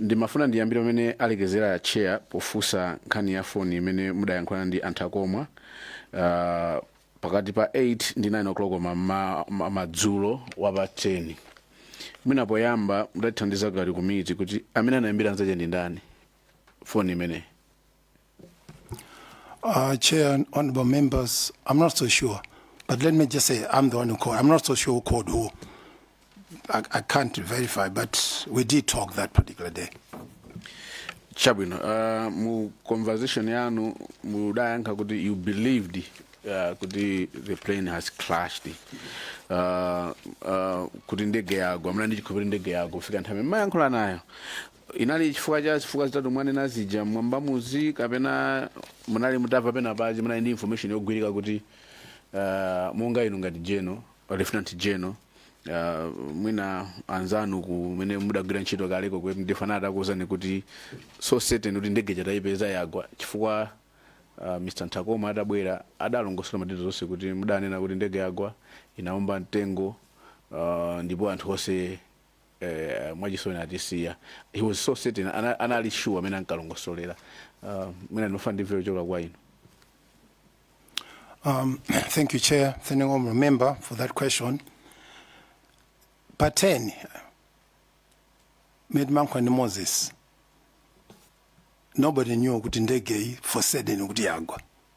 Ndimafuna ndiyambire pamene alekezera Chair pofunsa nkhani ya phone imene mudayankhulana ndi a Nthakomwa uh, pakati pa 8 ndi 9 o'clock ma, ma, ma, madzulo wa pa 10 mwina poyamba mutatithandiza ngati komiti kuti amene anayimbira nzache ndi ndani phone imeneyi Uh, Chair and honorable members, I'm not so sure. But let me just say, I'm the one who called. I'm not so sure who called who. I, I can't verify, but we did talk that particular day. chabwino uh, mu conversation yanu mudayankha kuti you believed uh, kuti the plane has clashed uh, uh, kuti ndege yagwa mna ndichikhulupirira ndege yagwa kufika nthawi mayankhula nayo Inali chifukwa cha zifukwa zitatu mwanena zija mmwambamuzi kapena munali mutava pena pache munali ndi information yogwirika kuti uh, monga inu ngati general lieutenant general uh, mwina anzanu kumene mudagwira ntchito kaleko ku mdf anali atakuwuzani kuti so certain kuti ndege ija tayipeza yagwa chifukwa uh, mr Nthakomwa atabwera adalongosola ma details onse kuti mudanena kuti ndege yagwa inaomba mtengo uh, ndipo anthu onse eeh mwachisoni atisiya he was so certain ana, anali sure mmene ankalongosolera uh, mwina ndimafuna ndimve kuchoka kwa inu Um, thank you, Chair. Thank you, Honourable Member, for that question. Pa 10, mmene ndimayankhula ndi Moses. Nobody knew kuti ndege iyi for certain kuti yagwa.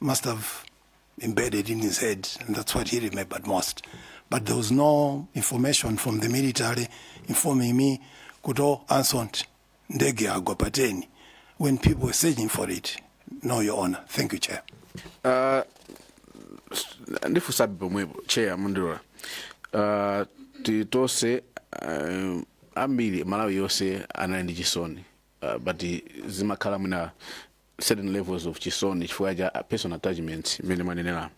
must have embedded in his head, and that's what he remembered most. But there was no information from the military informing me, Kuto Ansont, Ndege Agwa Pateni, when people were searching for it. No, Your Honor. Thank you, Chair. Uh, s- ndifusabe pomwepo cheya mundilola uh, titose uh, ambiri malawi yonse anali ndi chisoni uh, but zimakhala mwina certain levels of chisoni chifukwa cha personal attachments mmene mwanenera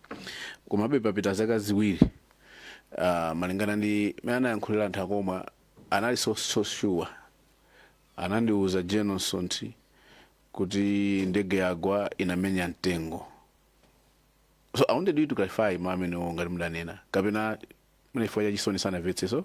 komabe papita zaka ziwiri uh, malingana ndi mmene anayankhulira a Nthakomwa anali so, so sure anandiuza General Msonthi kuti ndege yagwa inamenya mtengo so i wanted you to clarify mawu amenewo ngati mudanena kapena mwina chifukwa cha chisoni sanamvetse so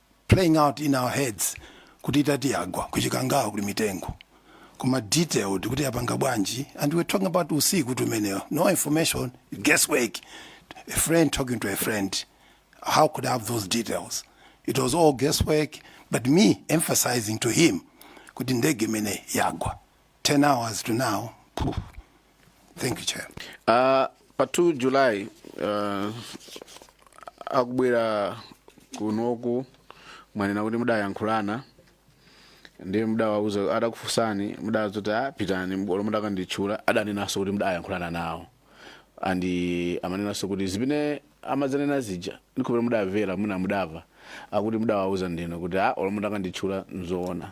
playing out in our heads kuti itati yagwa kuchikangawa kuli mitengo koma detailed kuti yapanga bwanji and we're talking about usiku tumeneyo no information guesswork a friend talking to a friend how could i have those details it was all guesswork but me emphasizing to him kuti ndege imene yagwa 10 hours to now phew, thank you chair Uh, pa 2 july uh, akubwera kunoku mwanena kuti mudayankhulana ndiye mudawauza adakufunsani mudazoti a pitani olo mudakanditchula adanenanso kuti mudayankhulana nawo and amanenanso kuti zimene amazanena zija ndikhulupirira mudamvera mwina mudamva akuti mudawauza ndinu kuti a olo mudakanditchula nzoona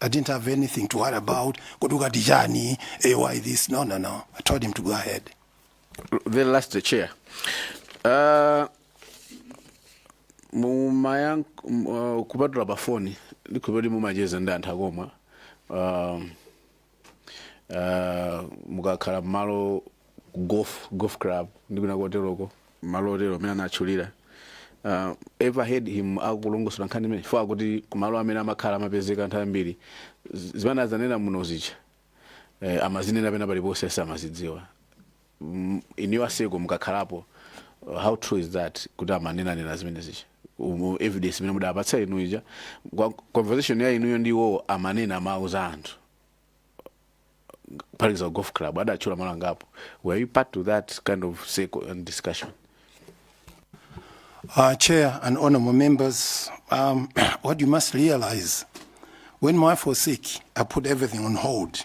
I didn't have anything to worry about. Kodi ukati chani? Eh, why this? No, no, no. I told him to go ahead. the last chair uh, mumayank uh, kupatula pafoni ndikhulupirira kuti mumacheza ndi a Nthakomwa um, uh, mukakhala mmalo golf, golf club ndi kwina koteroko malo otero amene anatchulira uh, ever heard him akulongosola nkhani imene chifukwa akuti kumalo amene amakhala amapezeka anthu ambiri z- zimene azanena muno zija eh, amazinena pena paliponse samazidziwa mm, inuyo a Msonthi mukakhalapo uh, how true is that kuti amanenanena zimene zija Umu- evidence imene mudapatsa inu ija Kwa- conversation ya inuyo ndi iwowo amanena mawu za anthu pali za golf club adatchula malo angapo were you part to that kind of circle and discussion Uh, Chair and honorable members, um, what you must realize, when my wife was sick, I put everything on hold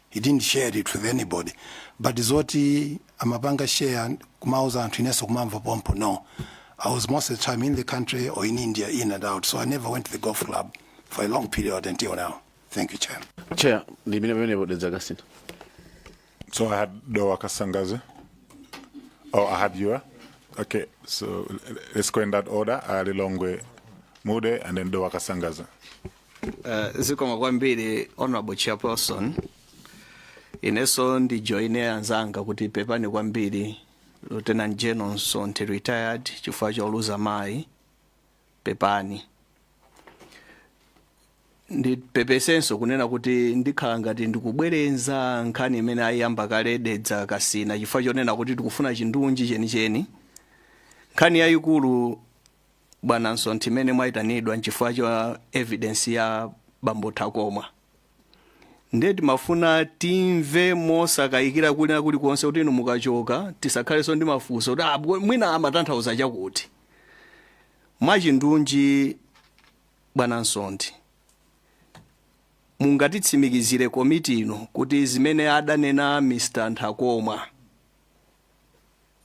He didn't share it with anybody but zoti amapanga share kumauza anthu inenso kumamva pompo no I was most of the time in the country or in India in and out so I never went to the golf club for a long period until now thank you chair chair ndi imene pamenepo dedzakasintha So I had Doa Kasangaze. Oh, I had Yura. Okay, so l- let's go in that order. Ali Longwe Mude and then Doa Kasangaze. Uh, zikomo kwambiri honorable chairperson inenso ndijoine anzanga kuti pepani kwambiri lieutenant general Msonthi retired chifukwa choluza mayi pepani ndipepesenso kunena kuti ndikhala ngati ndikubwerenza nkhani imene ayiyamba kale dedza kasina chifukwa chonena kuti tikufuna chindunji chenicheni nkhani yayikulu Bwana Msonthi, imene mwaitanidwa nchifukwa cha evidence ya bambo Nthakomwa. Ndiye timafuna timve mosakayikira kulina kulikonse kuti inu mukachoka tisakhalenso ndi mafunso kuti ah, bwe- mwina amatanthauza chakuti. Mwachindunji Bwana Msonthi, mungatitsimikizire komiti ino kuti zimene adanena Mr. Nthakomwa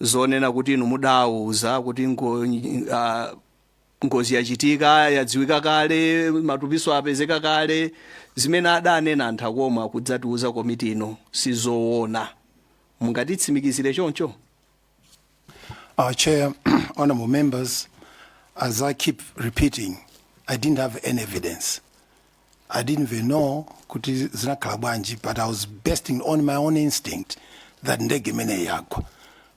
zonena kuti inu mudawauza kuti ngo, ah, ngozi yachitika yadziwika kale matupiso apezeka kale zimene adanena Nthakomwa kudzatiuza komiti ino sizoona mungatitsimikizire choncho Uh chair, honorable members, as I keep repeating, I didn't have any evidence. I didn't even know kuti zinakhala bwanji but I was basing on my own instinct that ndege imeneyi yagwa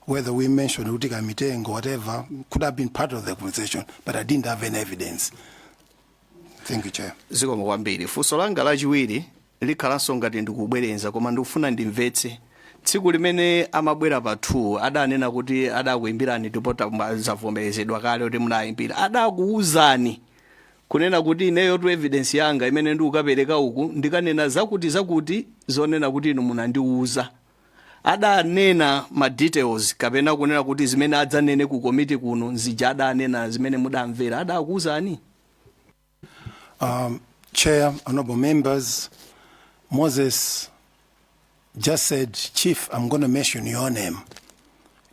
whether we mentioned kuti Nthungwa whatever could have been part of the conversation but I didn't have any evidence thank you chair zikomo kwambiri funso langa lachiwiri likhalanso ngati ndikubwerenza koma ndikufuna ndimvetse tsiku limene amabwera pa 2 adanena kuti adakuimbirani ndipo tama- zavomerezedwa kale kuti munayimbira adakuwuzani Kunena kuti ineyotu evidence yanga imene ndikukapereka uku ndikanena zakuti zakuti zonena kuti inu munandiuza. Adanena ma details kapena kunena kuti zimene adzanene ku komiti kuno nzija adanena zimene mudamvera adakuuzani? Um, Chair, honorable members, Moses just said, Chief, I'm going to mention your name.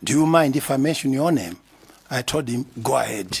Do you mind if I mention your name? I told him, go ahead.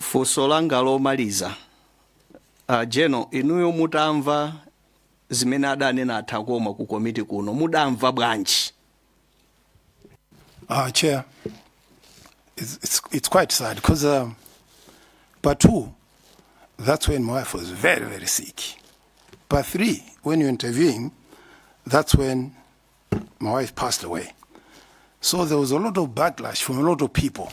Funso langa lomaliza, a General inuyo mutamva zimene adanena a Takoma ku komiti kuno mudamva bwanji? Uh, Chair, it's, it's, it's quite sad because um, part two, that's when my wife was very, very sick. Part three, when you're interviewing, that's when my wife passed away. So there was a lot of backlash from a lot of people.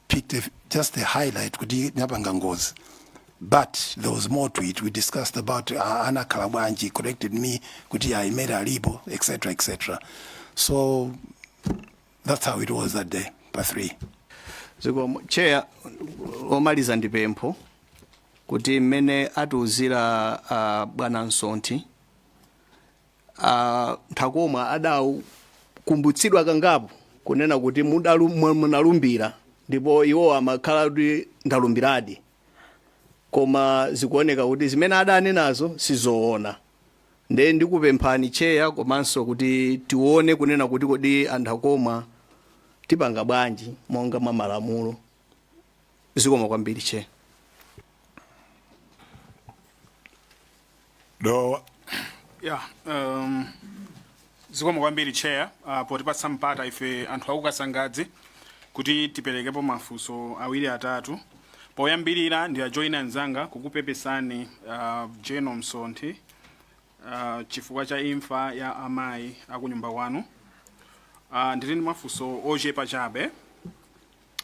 picked a, just the highlight kuti napanga ngozi but there was more to it we discussed about uh, anakhala bwanji korekitedi mi kuti aimere alipo etc etc so that's how it was that day pa 3 zikomo Chair womaliza ndi pempho kuti mmene atiuzira uh, bwana Msonthi a Nthakomwa adakumbutsidwa kangapo kunena kuti mudalu- mu- munalumbira ndipo iwo amakhala kuti ndalumbiradi koma zikuoneka kuti zimene adanenazo sizoona nde ndikupemphani Chair komanso kuti tione kunena kuti kodi a Nthakomwa tipanga bwanji monga mwa malamulo zikomo kwambiri Chair Dowa ya um, zikomo kwambiri chair uh, potipatsa mpata ife anthu a ku Kasangadzi kuti tiperekepo mafunso awiri atatu poyambirira ndiwajoyine anzanga kukupepesani uh, General Msonthi uh, chifukwa cha imfa ya amayi akunyumba kwanu uh, ndili ndi mafunso ochepa chabe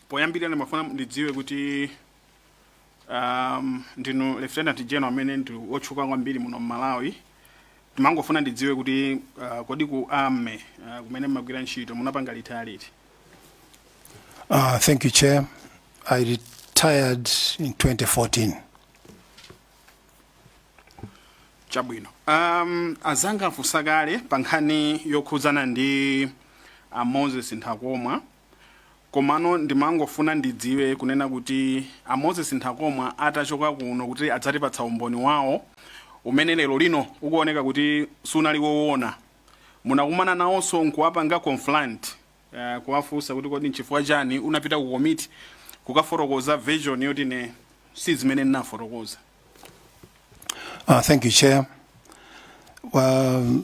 poyambirira ndimafuna ndidziwe kuti um, ndinu lieutenant general amene ndi wotchuka kwambiri muno mmalawi ndimangofuna ndidziwe kuti uh, kodi ku army uh, kumene mmagwira ntchito munapanga retire liti Uh, thank you, Chair. I retired in 2014. chabwino um, azanga afunsa kale pa nkhani yokhudzana ndi a moses nthakomwa Komano ndimangofuna ndidziwe kunena kuti a Moses Nthakomwa atachoka kuno kudzatipatsa umboni wawo umene lero lino ukuoneka kuti sunali wowona, munakumana nawonso nkuwapanga confront, kuwafunsa kuti kodi nchifukwa chani unapita ku komiti kukafotokoza version yoti ine sizimene ndinafotokoza? Uh, thank you, Chair. Well,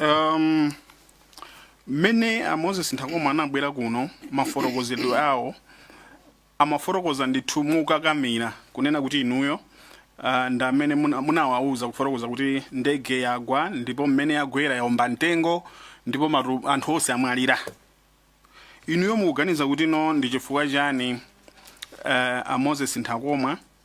Um, mmene a Moses Nthakomwa anabwera kuno m'mafotokozedwe awo amafotokoza ndithu mokakamira kunena kuti inuyo uh, ndi amene muna- munawauza kufotokoza kuti ndege yagwa ndipo mmene yagwera yaomba mtengo ndipo matu, anthu onse amwalira inuyo mukuganiza kuti no ndi chifukwa chani uh, a Moses Nthakomwa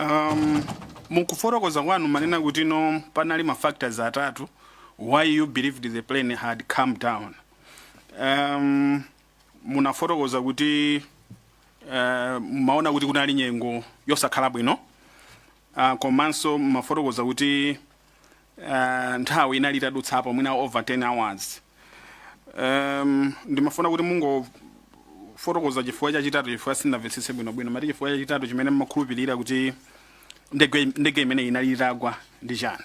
Um, mukufotokoza kwanu mwanena kuti no panali ma factors atatu why you believed the plane had come down um, munafotokoza kuti uh, maona kuti kunali nyengo yosakhala bwino uh, komanso mumafotokoza kuti uh, nthawi inali itadutsapo mwina over 10 hours um, ndimafuna kuti mungofotokoza chifukwa chachitatu chifukwa sindinamvetsetse bwinobwino mwati chifukwa chachitatu chimene mmakhulupirira kuti ndege imeneyi inali itagwa ndi chani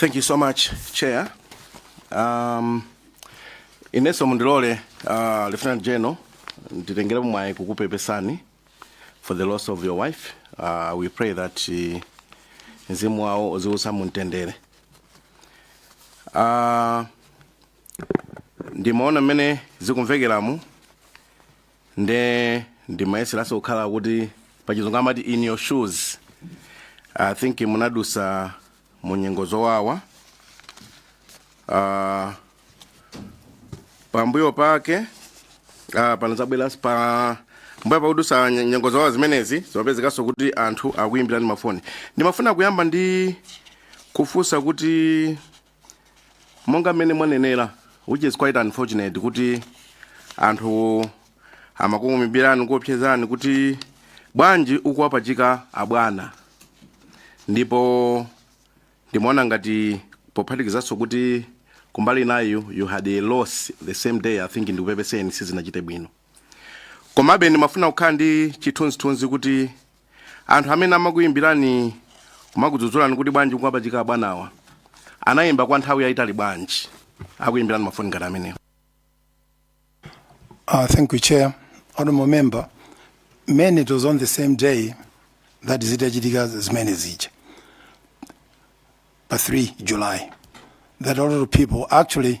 Thank you so much, Chair. Um, ineso mundilole uh, Lieutenant General nditengerepo mwayi kukupepesani for the loss of your wife. Uh, we pray that uh, mzimu wawo uziwusa mumtendere. Uh, ndimaona mmene zikumvekeramu nde ndimayeseranso kukhala kuti pachizungu amati in your shoes i think munadutsa mu nyengo zowawa uh, pambuyo pake uh, panadzabwera pambuyo pakudutsa nye- nyengo zowawa zimenezi zimapezekanso kuti anthu akuyimbirani mafoni ndimafuna kuyamba ndi kufunsa kuti monga mmene mwanenera which is quite unfortunate kuti anthu amakuyimbirani kuopsezani kuti bwanji ukuwapachika abwana ndipo ndimaona ngati pophatikizanso kuti kumbali inayo you had a loss the same day i think ndikupepeseni sizinachite bwino komabe ndimafuna kukhala ndi chithunzithunzi kuti anthu amene amakuyimbirani kumakudzudzulani kuti bwanji ukuwapachika abwanawa anayimba kwa nthawi yayitali bwanji akuyimbirani mafoni ngati amenewo Uh, thank you, Chair. Honorable Member, mainly it was on the same day that zitachitika zimene zija pa 3 July that a lot of people actually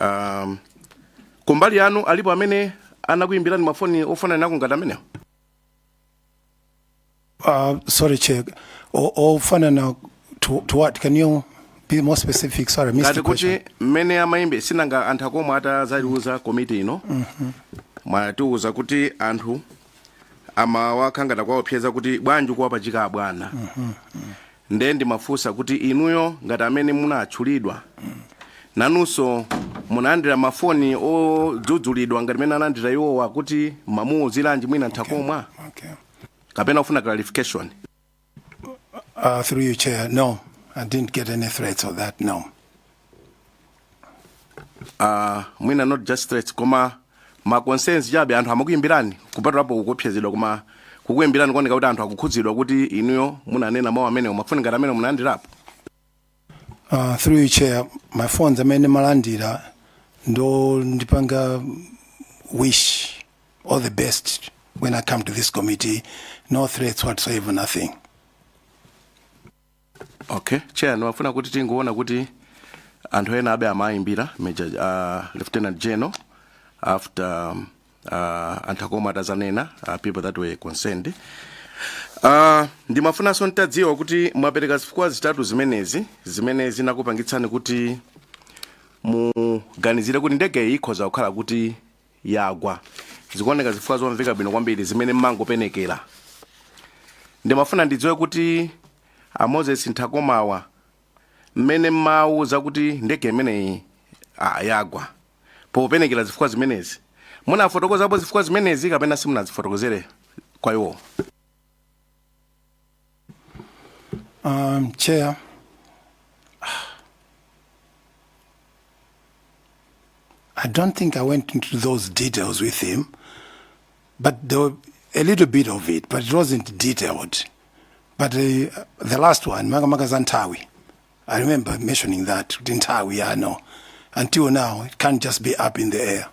um, kumbali yanu alipo amene anakuyimbirani mafoni ofananako ngati amenewo Uh, sorry, Chair. O- Ofanana to, to what? Can you be more specific? Sorry, I missed ngati the kuti question. mmene amayimbira si nanga a Nthakomwa atatha auza komiti ino mwatiuza kuti anthu amakhala ngati akuwaopseza kuti bwanji ukuwapachika abwana nde ndimafunsa kuti inuyo ngati amene munatchulidwa nanunso munalandira mafoni odzudzulidwa ngati mene analandira iwowa kuti mumamuuziranji mwina Nthakomwa okay. kapena ufuna clarification Through you, Chair. No, I didn't get any threats of that, no. Uh, mwina not just threats koma ma concerns chabe anthu amakuyimbirani kupatulapo kukuopsezedwa koma kukuyimbirani kuoneka kuti anthu akukhudzidwa kuti inuyo munanena mawu amenewo mafoni ngati amenewo munalandirapo Uh, through you chair my phones amene ndimalandira ndondipanga wish all the best when i come to this committee no threats whatsoever nothing okay chair ndimafuna kuti tingoona kuti anthu ena abe amayimbira major uh, lieutenant general after um, uh, a Nthakomwa atazanena uh, people that were concerned Uh, ndimafunanso ntadziwa kuti mwapereka zifukwa zitatu zimenezi zimene zinakupangitsani kuti muganizire kuti ndege iyi ikhoza kukhala kuti yagwa zikuoneka zifukwa zomveka bwino kwambiri zimene mmangopenekera ndimafuna ndidziwe kuti a moses nthakomwa mmene mmawauza kuti ndege imeneyi ah, yagwa popenekera zifukwa zimenezi? Munafotokozapo zifukwa zimenezi kapena simunazifotokozere kwa iwowo? Um, chair. I don't think I went into those details with him, but there were a little bit of it, but it wasn't detailed. But uh, the last one, makamaka za nthawi, I remember mentioning that kuti nthawi you know until now it can't just be up in the air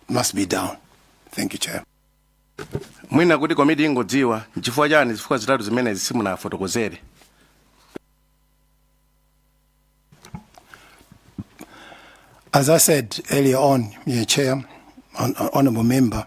it must be down thank you chair mwina kuti komiti ingodziwa nchifukwa chani zifukwa zitatu zimenezi simunawafotokozere As I said earlier on, Chair, hon- hon- Honourable Member,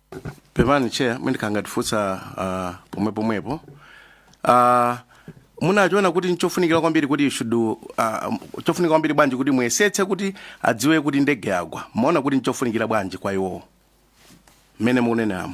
pepani chair mwina ndikhangati ndifunsa uh, pomwe pomwepo uh, munachiona kuti nchofunikira kwambiri kuti you should uh, chofunika kwambiri bwanji kuti muyesetse kuti adziwe kuti ndege yagwa mumaona kuti nchofunikira bwanji kwa iwowo mmene mukuneneramo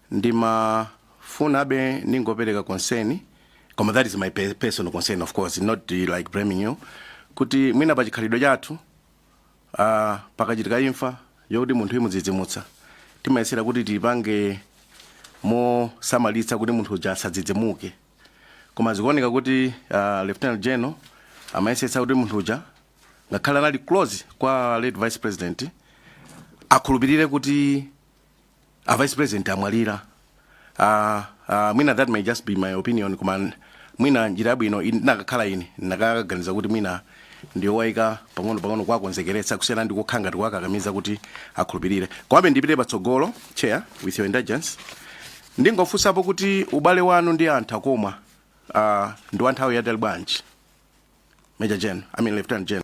ndimafuna abe ndingopereka concern koma that is my pe- personal concern of course not uh, like blaming you kuti mwina pa chikhalidwe chathu uh, pakachitika imfa yokuti munthu imudzidzimutsa timayesera kuti tipange mosamalitsa kuti munthu uja asadzidzimuke koma zikuoneka kuti uh, lieutenant general amayesetsa kuti munthu uja ngakhale anali close kwa late vice president akhulupirire kuti a vice president amwalira uh, uh, mwina that may just be my opinion koma n- mwina njira yabwino in- ndinakakhala ine ndinakaganiza kuti mwina ndiyowaika pang'ono pang'ono kuwakonzekeretsa kusiyana ndi kukhala ngati kuwakakamiza kuti akhulupirire komabe ndipite patsogolo chair with your indulgence ndingofunsapo kuti ubale wanu ndi a Nthakomwa uh, ndi wa nthawi yaitali bwanji major general i mean lieutenant general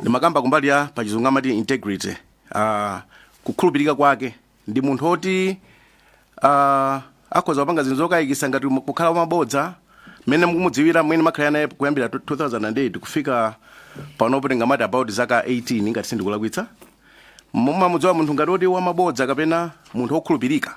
ndimakamba kumbali ya pachizungu amati integrity uh, kukhulupirika kwake ndi munthu oti uh, akhoza kupanga zinthu zokayikitsa ngati mu- kukhala wamabodza mmene mukumudziwira mmene mwakhala naye kuyambira 2008 kufika panopo tingamati about zaka 18 ngati sindikulakwitsa mumamudziwa munthu ngati oti wamabodza kapena munthu wokhulupirika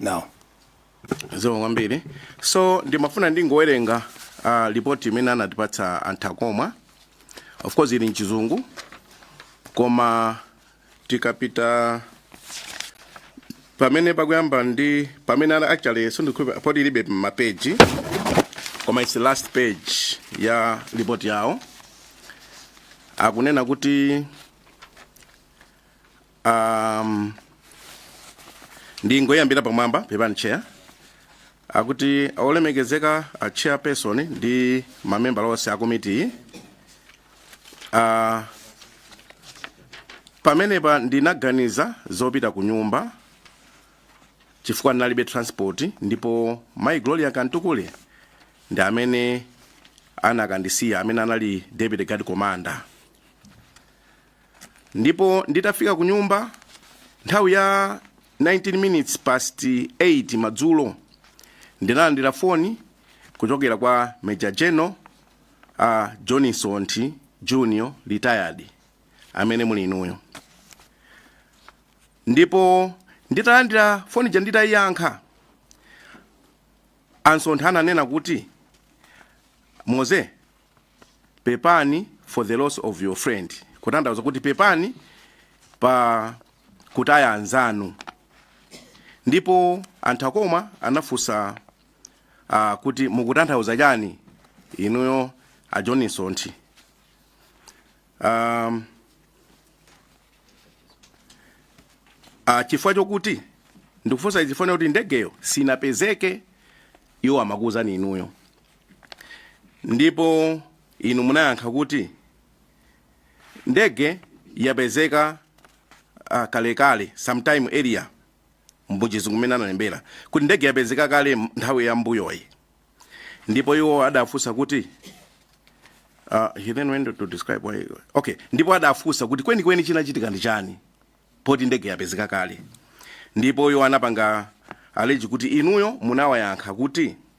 now zikomo kwambiri so ndimafuna ndingowerenga uh, lipoti imene anatipatsa a Nthakomwa of course ili mchizungu koma tikapita pamene pakuyamba ndi pamene ana actually sindikudziwa poti ilibe mapeji koma its last page ya lipoti yawo akunena kuti Um, ndingoyambira pamwamba pepani chair akuti olemekezeka a chairperson ndi mamembala onse a komitiyi uh, pamenepa ndinaganiza zopita ku nyumba chifukwa ndinalibe transport ndipo mai gloria kamtukule ndi amene anakandisiya amene anali deputy guard commander Ndipo nditafika kunyumba nthawi ya 19 minutes past 8 madzulo ndinalandira foni kuchokera kwa Major General a John Msonthi Junior retired amene muli inuyo. Ndipo nditalandira foni ja nditayiyankha a Msonthi ananena kuti Moze Pepani for the loss of your friend, kutanthauza kuti pepani pa kutaya anzanu. Ndipo a Nthakomwa anafunsa uh, kuti mukutanthauza chani inuyo a John Msonthi. Um, uh, chifukwa chokuti ndikufunsa izi chifukwa kuti ndegeyo sinapezeke iwo amakuwuzani inuyo. ndipo inu munayankha kuti ndege yapezeka uh, kalekale sometime earlier mchizungu mmene analembera kuti ndege yapezeka kale m- nthawi ya mbuyoyi ndipo iwo adafunsa kuti uh, he then went to describe why okay ndipo adafunsa kuti kwenikweni chinachitika ndi chani poti ndege yapezeka kale ndipo iwo anapanga allege kuti inuyo munawayankha kuti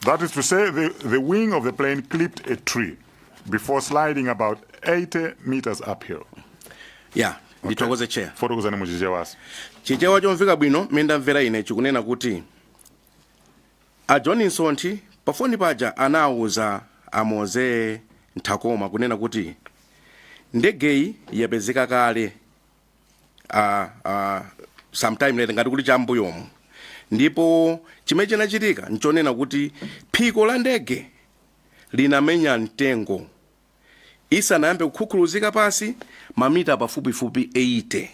That is to say, the, the wing of the plane clipped a tree before sliding about 80 meters uphill. Yeah ndithokoze chair Fotokozani mu Chichewa. chichewa chomveka bwino mmene ndamvera ine chikunena kuti a john Msonthi pafoni paja anawuza a Moses Nthakomwa kunena kuti ndegeyi yapezeka kale uh, uh, sometime later ngati kuti chambuyomu ndipo chimene chinachitika nchonena kuti phiko la ndege linamenya mtengo isanayambe kukhukhuluzika pansi mamita pafupifupi 80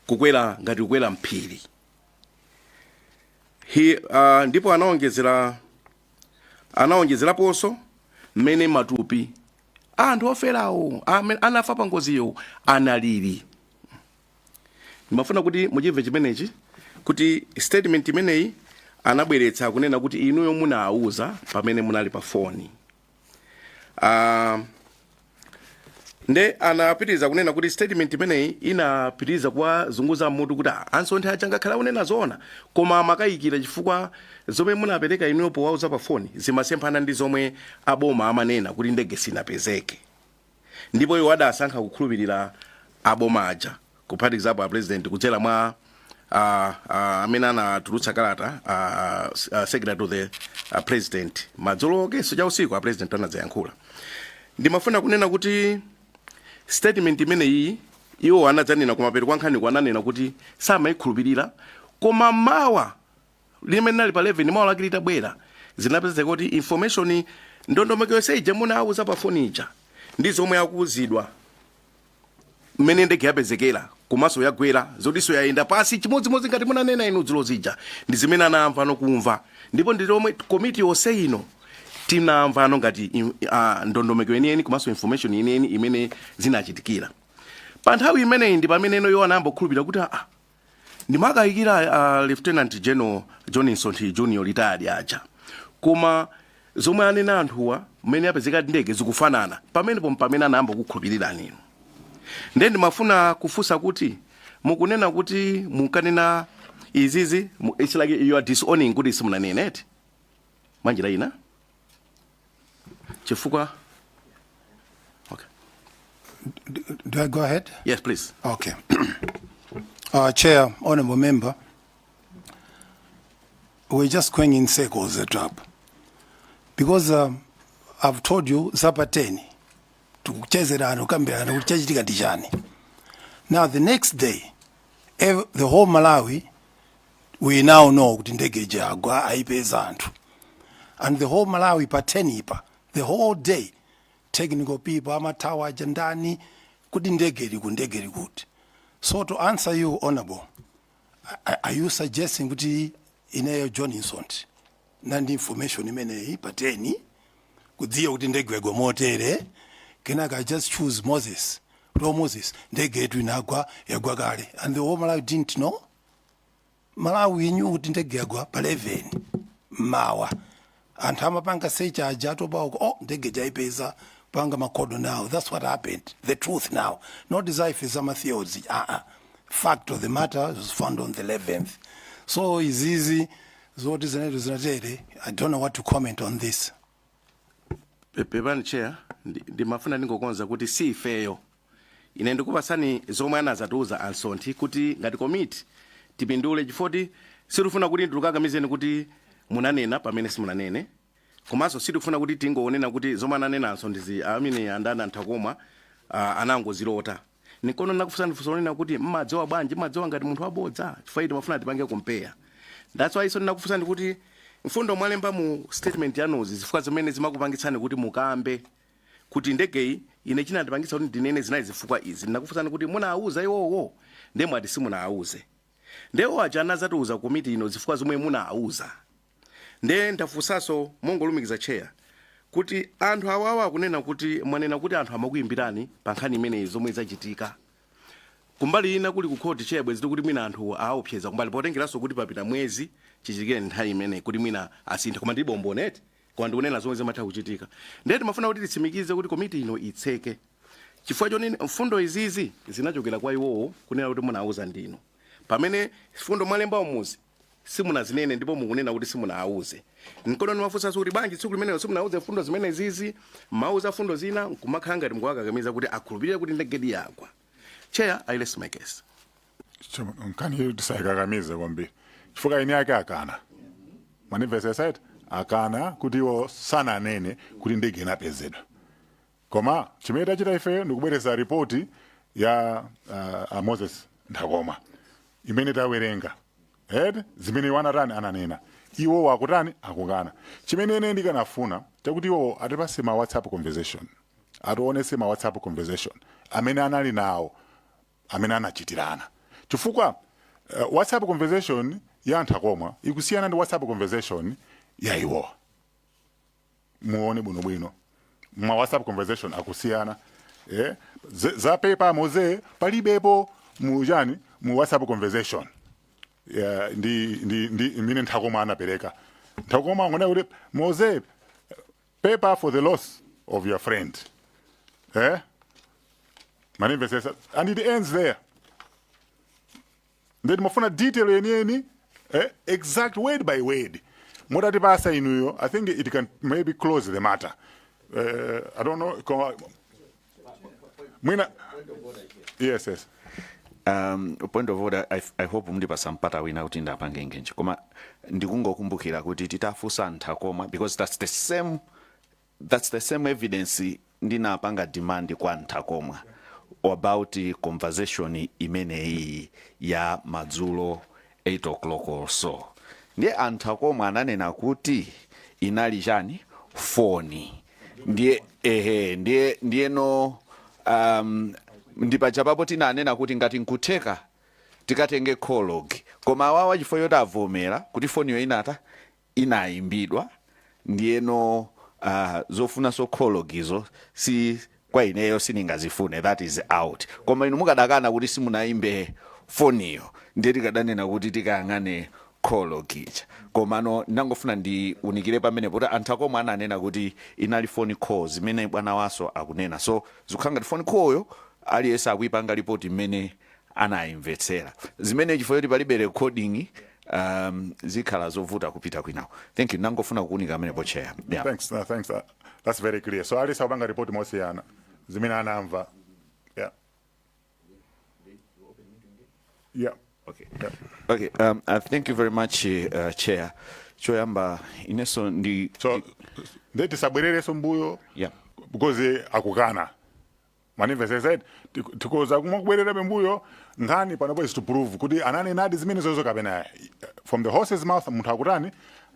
kukwera ngati kukwera mphiri Hi- ah, ndipo anaonjezera anaonjezeraponso mmene matupi anthu oferawo amene anafa pa ngoziyo analili ndimafuna kuti muchimve chimenechi kuti statement imeneyi anabweretsa kunena kuti inuyo munawuza pamene munali pa foni uh, nde anapitiriza kunena kuti statement imeneyi inapitiriza kuwazunguza mutu kuti "Ah, a Msonthi aja ngakhale akunena zoona koma amakayikira chifukwa Zomwe munapereka inuyo powauza pa phone zimasemphana ndi zomwe a boma amanena kuti ndege sinapezeke ndipo iwo adasankha kukhulupilira a boma aja kuphatikizapo a President kudzera mwa a a amene anatulutsa kalata a a secretary to the a President madzulo akenso cha usiku a President anadzayankhula ndimafuna kunena kuti statement imeneyi iwo anadzanena kumapeto kwa nkhani ananena kuti samayikhulupirira koma mawa limene inali pa 11 mawa lake litabwera zinapezeka kuti information ndondomeko yonse ija munauza pa foni ija ndi zomwe akuwuzidwa mmene ndege yapezekera komanso yagwera zotinso yayenda pansi chimodzimodzi ngati munanena inu dzulo zija ndi zimene anamva nokumva ndipo ndi zomwe komiti yonse ino tinamvano ngati im- ah, ndondomeko yeniyeni komanso information yeniyeni imene zinachitikira pa nthawi imeneyi ndi pamene ino iwo anayamba kukhulupirira kuti aa Ndimakayikira a Lieutenant General John Msonthi Junior retired aja. Koma zomwe anena anthuwa mmene yapezeka ndege zikufanana. Pamenepo mpamene anayamba kukukhulupirirani inu. Ndiye ndimafuna kufunsa kuti mukunena kuti mukanena izizi mu- it's like you are disowning kuti simunanene eti. Mwanjira ina? chifukwa okay. do, do i go ahead yes please okay uh, chair honorable member we're just going in circles at up because uh, i've told you zapa 10 tikuchezerana kukambirana kuti chachitika ndi chani now the next day ev- the whole malawi we now know kuti ndege ija yagwa ayipeza anthu and the whole malawi pa 10-pa the whole day technical people amathawa aja ndani kuti ndege ili kuti ndege ili kuti so to answer you honorable a- a- are you suggesting kuti ineyo john Msonthi ndinali ndi information imeneyi pa 10 kudziwa kuti ndege yagwa motere kenaka i just choose moses to moses ndege yetu inagwa yagwa kale and the whole malawi didn't know malawi knew kuti ndege yagwa pa 11 mmawa anthu amapanga search aja atopa uko oh ndege ija aipeza panga makodo now that's what happened the truth now not desire za matheories ah ah fact of the matter was found on the 11th so izizi zoti zinetu zinatere i don't know what to comment on this Pe- pepani chair ndi- ndimafuna ndingokonza kuti si ifeyo ine ndikupatsani zomwe anazatiuza a msonthi kuti ngati komiti tipindule chifoti sitifuna kuti ndikukakamizeni kuti munanena pamene simunanene komanso sitifuna kuti tingonena kuti zomwe ananena a msonthizi amene andana nthakomwa uh, anangozilota nkona nakufunsani funso lonena kuti mmadziwa bwanji mmadziwa ngati munthu wabodza chifukwa timafuna tipange compare that's why reason nakufunsani kuti mfundo mwalemba mu statement yanuzi zifukwa zimene zimakupangitsani kuti mukambe kuti ndegeyi ine chinandipangitsa kuti ndinene zinali zifukwa izi ndinakufunsani kuti munawuza iwowo nde mwati simunawuze nde iwo aja anazatiuza komiti ino zifukwa zomwe munawuza nde ndafunsanso mongolumikiza cheya kuti anthu awawa akunena kuti mwanena kuti anthu amakuyimbirani pa nkhani imeneyi zomwe zachitika kumbali ina kuli kukhoti cheya bwezi tikuti mwina anthu aopseza kumbali potengeranso kuti papita mwezi chichitikire nthawi imene kuti mwina asintha koma ndilibe umboni eti koma ndikunena zomwe zimatha kuchitika ndiye timafuna kuti titsimikize kuti komiti ino itseke chifukwa chonena mfundo izizi zinachokera kwa iwowo kunena kuti munauza ndinu pamene mfundo mwalemba umuzi simunazinene ndipo mukunena kuti simunauze nkona ndimafunsanso kuti bwanji tsiku limenelo simunauze mfundo zimenezizi mauza mfundo zina nkumakhala ngati mukuwakakamiza kuti akhulupirire kuti ndegedi yagwa cheya I rest my case So, nkhaniyo tisayikakamize kwambiri chifukwa eni ake akana mwandimvetsetsa eti akana kuti iwo sananene kuti ndege inapezedwa koma chimene tachita ifeyo ndikubwereza ripoti ya uh, a moses nthakomwa imene tawerenga eti zimene iwo anatani ananena iwo akutani akukana chimene ine ndikanafuna chakuti iwo atipatse ma whatsapp conversation atiwonetse ma whatsapp conversation amene anali nawo amene anachitirana chifukwa uh, whatsapp conversation ya a nthakomwa ikusiyana ndi whatsapp conversation ya iwowa muone bwinobwino ma whatsapp conversation akusiyana eh? za pepa moze palibepo mu ujeni mu whatsapp conversation yeah, ndi, ndi, ndi imene nthakomwa anapereka nthakomwa angonena kuti moze paper for the loss of your friend eh manimvesesa and it ends there then mafuna detail yeniyeni eh, exact word by word mutati pasa inuyo i think it can maybe close the matter uh, i don't know koma mwina yes yes um, point of order I, i hope mundipatsa mpata wina kuti ndapange engage koma ndikungokumbukira kuti titafunsa a nthakomwa because that's the same that's the same evidence ndinapanga demand kwa a nthakomwa about conversation imeneyi ya madzulo 8 o'clock or so ndiye anthu akomwe ananena kuti inali chani foni ndiye ehe ndiye ndiyeno um, ndi paja papo tinanena kuti ngati nkutheka tikatenge call log koma awawa chifukwa choti avomera kuti foniyo inata inaimbidwa ndiyeno zofunanso call log izo si kwa ineyo sindingazifune that is out koma inu mukadakana kuti simunaimbe foniyo ndiye tikadanena kuti tikayang'ane call log ija komano ndangofuna ndiunikire pamene poti anthu akomwe ananena kuti inali phone call zimene bwana waso akunena so zikukhala ngati phone call yo aliyense akuipanga lipoti mmene anayimvetsera zimene chifukwa choti palibe recording um, zikhala zovuta kupita kwinako thank you nangofuna kuunika amenepo chair yeah. Thanks, uh, thanks. Uh, that's very clear. So aliyense akupanga report mosiyana zimene anamva. Yeah. Yeah. Okay. Yeah. Okay, um, uh, thank you very much uh, chair choyamba ineso ndi So ndiye tisabwerereso mbuyo yeah. because akukana Mwanimvetsetsa eti? Tik- Tikhoza kumabwererabe mbuyo nkhani panopo is to prove kuti ananenadi zimenezozo kapena ayi. from the horse's mouth munthu akutani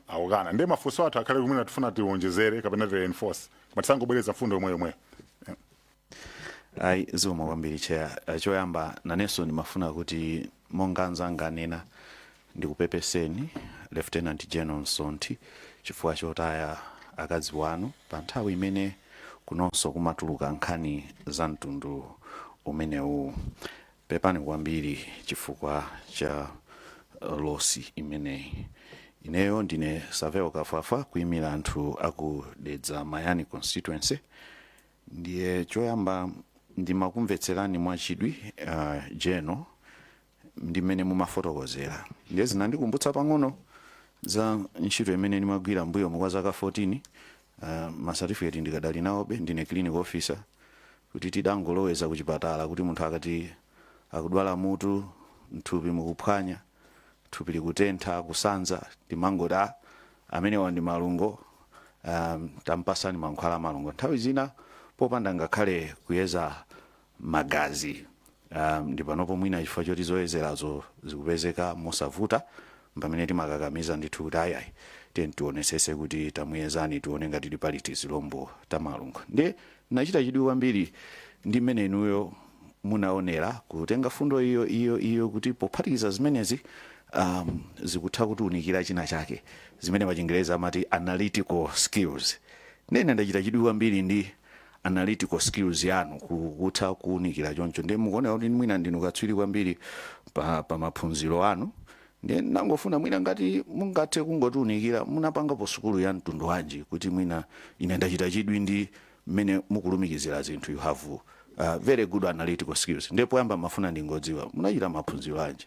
akukana ndiye mafunso athu akhale kumene tifuna tiwonjezere kapena ti reinforce koma tisangobwereza mfundo yomwe yomweyo ayi zikomo kwambiri cheya Eh, choyamba nanenso ndimafuna kuti monga anzanga anena Ndikupepeseni Lieutenant General Msonthi chifukwa chotaya akazi wanu pa nthawi imene kunonso kumatuluka nkhani za mtundu umenewu. Pepani kwambiri chifukwa cha losi imeneyi. Ineyo ndine Savel Kafwafwa kuimira anthu a ku Dedza Mayani Constituency. Ndiye choyamba ndimakumvetserani mwachidwi a General. ndi mmene mumafotokozera ndiye zinandikumbutsa pang'ono za ntchito imene ndimagwira mbuyomu kwa zaka 14 uh, masatifiketi ndikadali nawobe ndine clinical officer kuti tidangoloweza ku chipatala kuti munthu akati akudwala mutu mthupi mukuphwanya thupi likutentha kusanza timangoti "Ah, amenewa ndi malungo um, tampasani mankhwala a malungo nthawi zina popanda ngakhale kuyeza magazi. Um, ndi panopo mwina chifukwa choti zoyezerazo zikupezeka mosavuta mpamene timakakamiza ndithu kuti ayayi tiyeni tionesese kuti tamuyezani tione ngati ti pali tizilombo ta malungo ndiye nachita chidwi kwambiri ndi mmene inuyo munaonera kutenga fundo iyo iyo iyo kuti pophatikiza zimenezi um, zikutha kutiunikira china chake zimene pachingerezi amati analytical skills ndiye ndachita chidwi kwambiri ndi analytical skills yanu ku- kutha kuwunikira choncho ndiye mukuoneka kuti mwina ndinu katswiri kwambiri pa, pa maphunziro anu ndiye ndangofuna mwina ngati mungathe kungotiunikira munapangapo sukulu ya mtundu wanji kuti mwina ine ndachita chidwi ndi mmene mukulumikizira zinthu you have uh, very good analytical skills ndiye poyamba ndimafuna ndingodziwa munachita maphunziro anji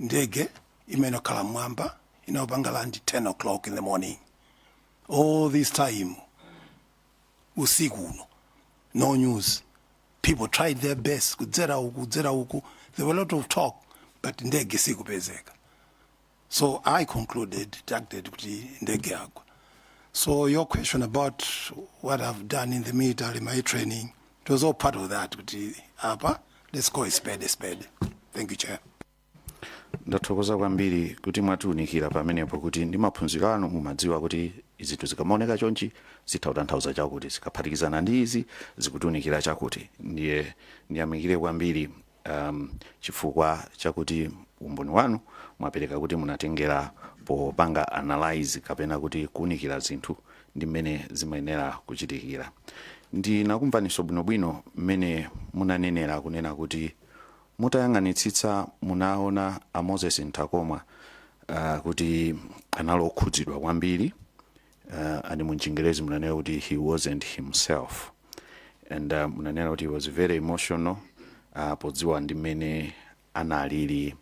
ndege imene ili yokhala mmwamba inayenera kupanga land 10 o'clock in the morning all this time usiku uno no news people tried their best kudzera uku kudzera uku there were a lot of talk but ndege sikupezeka so i concluded deducted kuti ndege yagwa so your question about what i've done in the military my training it was all part of that kuti apa let's call a spade a spade thank you chair ndathokoza kwambiri kuti mwatiunikira pamenepo kuti ndi maphunziro anu mumadziwa kuti zinthu zikamaoneka chonchi zitha kutanthauza chakuti zikaphatikizana ndi izi zikutiunikira chakuti ndiye ndiyamikire kwambiri um chifukwa chakuti umboni wanu mwapereka kuti munatengera popanga analyze kapena kuti kuunikira zinthu ndi mmene zimayenera kuchitikira. Ndinakumvaniso bwinobwino mmene munanenera kunena kuti mutayang'anitsitsa munaona a Moses Ntakomwa uh, kuti anali okhudzidwa kwambiri uh, and m'Chingerezi munanena kuti he wasn't himself and uh, munanena kuti he was very emotional uh, podziwa ndi mmene analili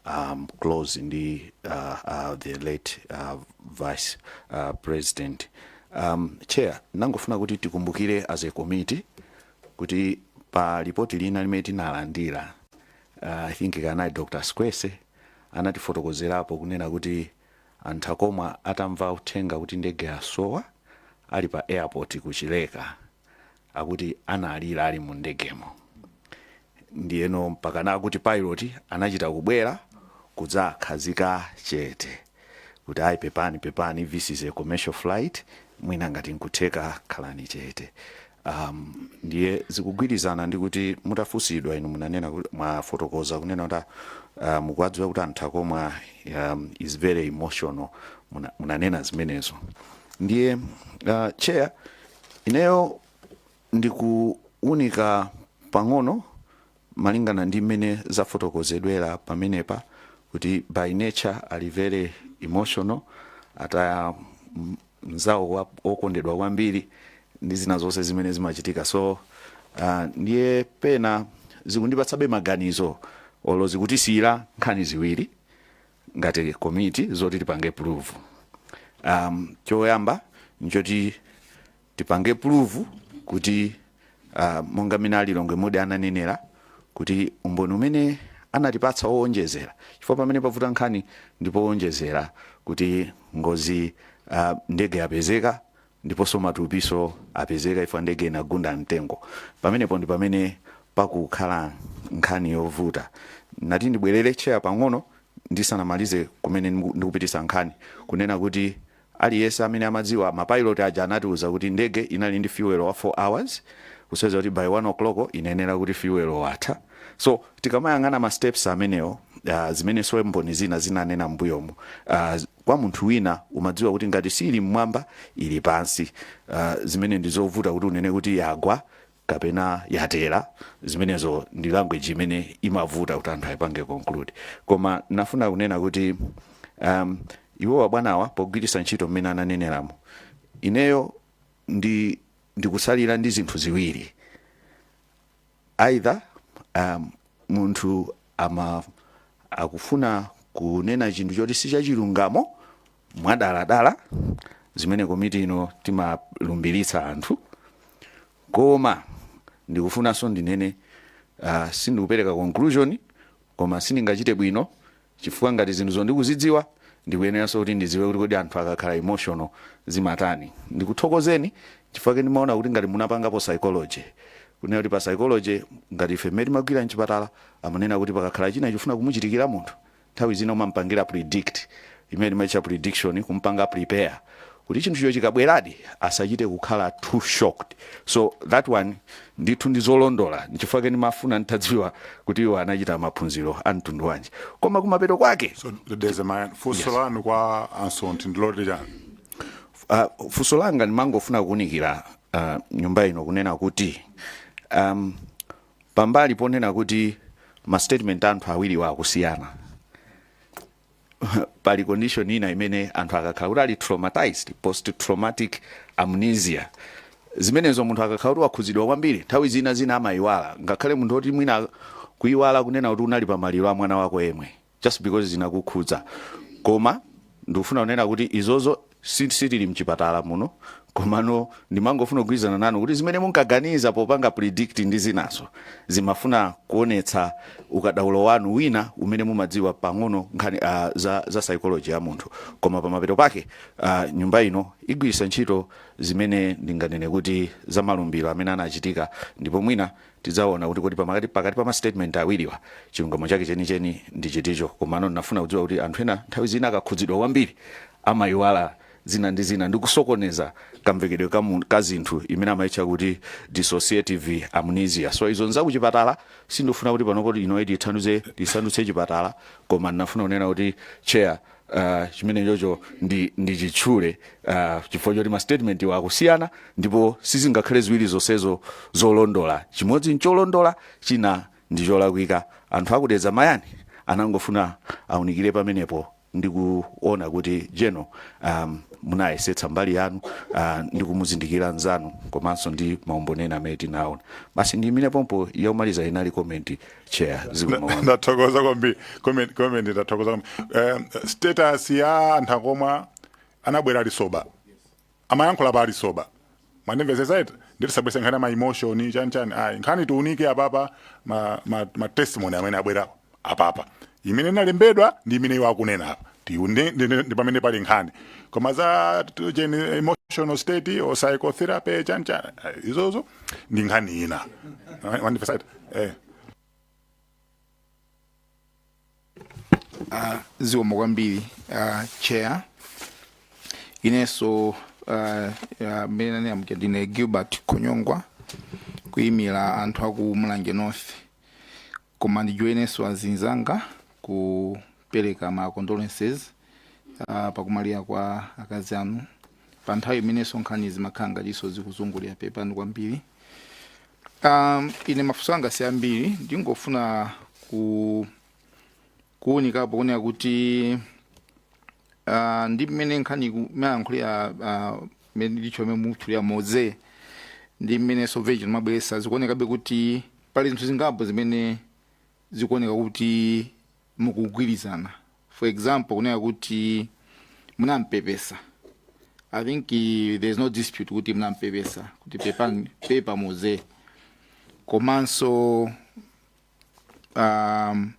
um, close ndi uh, uh, the late uh, vice uh, president um, chair ndangofuna kuti tikumbukire as a committee kuti pa lipoti lina limene tinalandira uh, i think kanali dr squese anatifotokozerapo kunena kuti A Ntakomwa atamva uthenga kuti ndege yasowa ali pa airport ku Chileka akuti analira ali mu ndegemo ndiyeno mpakana akuti pilot anachita kubwera kudzawakhazika chete kuti ayi pepani pepani this is a commercial flight mwina ngati nkutheka khalani chete. Am, ndiye zikugwirizana ndi kuti mutafunsidwa inu munanena kuti mwafotokoza kunena kuti ah, ah, mukuwadziwa kuti a Ntakomwa um, is very emotional Muna, munanena zimenezo ndiye uh, chair ineyo ndikuunika pang'ono Malingana ndi mmene zafotokozedwera pamenepa kuti by nature ali very emotional ataya mnzawo wokondedwa kwambiri ndi zina zonse zimene zimachitika so uh, ndiye pena zikundipatsabe maganizo olo zikutisiyira nkhani ziwiri ngati komiti zoti tipange prove um, choyamba nchoti tipange prove kuti uh, monga mene a Lilongwe Mudi ananenera kuti umboni umene anatipatsa owonjezera chifukwa pamene pavuta nkhani ndipo owonjezera kuti ngozi uh, ndege yapezeka ndiponso matupinso apezeka chifukwa ndege inagunda mtengo pamenepo ndi pamene pakukhala nkhani yovuta nati ndibwerere Chair pang'ono ndisanamalize kumene ndiku- ndikupititsa nkhani kunena kuti Aliyense amene amadziwa ma pilot aja anatiuza kuti ndege inali ndi fuel wa 4 hours kusonyeza kuti by 1 o'clock inayenera kuti fuel watha so tikamayang'ana ma steps amenewo zimenenso mboni zina zinanena mmbuyomu kwa munthu wina umadziwa kuti ngati siili mmwamba ili pansi zimene ndi zovuta kuti unene kuti yagwa kapena yatera zimenezo ndi language imene imavuta kuti anthu aipange conclude koma nafuna kunena kuti um, iwo abwanawa pogwiritsa ntchito mmene ananeneramo ineyo ndi ndikutsalira ndi zinthu ziwiri either um, munthu ama akufuna kunena chinthu choti si chachilungamo mwadaladala zimene komiti ino timalumbiritsa anthu koma ndikufunanso ndinene uh, sindikupereka conclusion koma sindingachite bwino chifukwa ngati zinthu ndikuzidziwa ndikuyeneranso kuti ndidziwe kuti kodi anthu akakhala emotional zimatani ndikuthokozeni chifukwake ndimaona kuti ngati munapangapo psychology kunena kuti pa psychology ngati ife mmene timagwira mchipatala amanena kuti pakakhala china chifuna kumuchitikira munthu Nthawi zina umampangira predict, imene timaitcha prediction, kumpanga prepare kuti chinthucho chikabweradi asachite kukhala too shocked. So that one ndithu ndi zolondola, nchifukwa chake ndimafuna nditadziwa kuti iwo anachita maphunziro a mtundu wanji. Koma kumapeto kwake. So Honourable, funso lanu kwa a Msonthi ndiloti chani? Uh, funso langa ndimangofuna kuunikira uh, nyumba ino kunena kuti um, Pambali ponena kuti ma statement a anthu awiriwa akusiyana, pali condition ina imene anthu akakhala kuti ali traumatized, post traumatic amnesia, zimenezo munthu akakhala kuti wakhudzidwa kwambiri, nthawi zina zina amaiwala, ngakhale munthu woti mwina kuiwala kunena kuti unali pa maliro a mwana wako yemwe. just because zinakukhudza koma ndikufuna kunena kuti izozo si- sitili mchipatala muno komano ndimangofuna kugwirizana nanu kuti zimene munkaganiza popanga predict ndi zinanso zimafuna kuonetsa ukadaulo wanu wina umene mumadziwa pang'ono nkhani uh, za, za psychology ya munthu koma pamapeto pake uh, nyumba ino igwiritsa ntchito zimene ndinganene kuti za malumbiro amene anachitika ndipo mwina Tidzaona kuti kodi pamakati pakati pa ma statement awiriwa chilungamo chake chenicheni ndi chiticho. Komano ndinafuna kudziwa kuti anthu ena nthawi zina akakhudzidwa kwambiri amaiwala zina ndi zina ndi kusokoneza kamvekedwe ka mu- ka zinthu imene amaitcha kuti dissociative amnesia. So izo nzakuchipatala sindifuna kuti panopo ino iti tisandutse chipatala koma ndinafuna kunena kuti chair uh, chimene chocho ndi, ndi chitchule uh, chifukwa choti mastatementwa akusiyana ndipo sizingakhale ziwiri zonsezo zolondola chimodzi ncholondola china ndi cholakwika anthu aku Dedza Mayani anangofuna aunikire pamenepo ndi kuona kuti jeno um, munayesetsa mbali yanu uh, ndi kumuzindikira nzanu komanso ndi maumboni ena amene tinaona basi ndiyimire pompo yakumaliza inali komenti chair zikomo ndathokoza kwambiri comment comment ndathokoza kwambiri eh, status ya anthu akomwa anabwera ali sober amayankhula pa ali sober mwandimvetsetsa eti nde tisabweretse nkhani ama emotion chani chani ayi nkhani tiunike apapa ma, ma, ma testimony amene abwera apapa imene inalembedwa ndi imene iwo akunena apa tione ndi- ndi- ndi pamene pali nkhani koma za t- cheni emotional state or psychotherapy chani chani ayi, izozo ndi nkhani ina mwandimvetsa eh uh, zikomo kwambiri uh, chair inenso uh, uh, mmene nanena muja ndine gilbert Khonyongwa kuyimira anthu aku mulanje north Koma ndijoinenso azinzanga kupereka ma condolences uh, pakumwalira kwa akazi anu pa nthawi imenenso nkhani zimakhala ngatinso zikuzungulira pepani kwambiri. Um, ine mafunso anga si ambiri, ndingofuna ku kuunikapo kunena kuti uh, ndi mmene nkhani mwayankhulira uh, mmene ndicho mmene mwatchulira Moze ndi mmene soveji amabweretsa zikuonekabe kuti pali zinthu zingapo zimene zikuoneka kuti mukugwirizana for example kunena kuti munampepesa i think eh, there is no dispute kuti munampepesa kuti pepani pepa moze komanso um,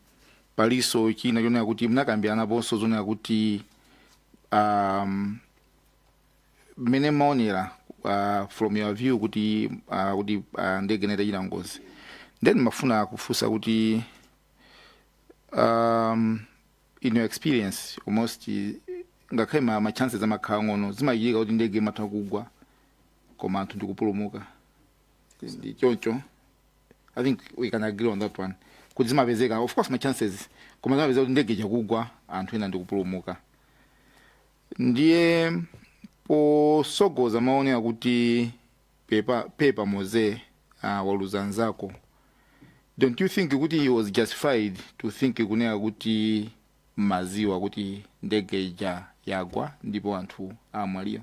paliso china chonena kuti mnakambiranaponso zonena kuti um, mmene mmaonera uh, from your view kuti uh, kuti uh, ndege inachita chinangozi then ndimafuna kufunsa kuti um, in your experience almost eh, ngakhale ma, ma chances amakhala ang'ono zimachitika kuti ndege imatha kugwa koma anthu ndikupulumuka ndi choncho i think we can agree on that one kuti zimapezeka of course ma chances koma zimapezeka kuti ndege ija kugwa anthu ena ndikupulumuka ndiye posogoza maonera kuti pepa pepa moze uh, waluza nzako don't you think kuti he was justified to think kunena kuti munaziwa kuti ndege ija yagwa ndipo anthu amwalira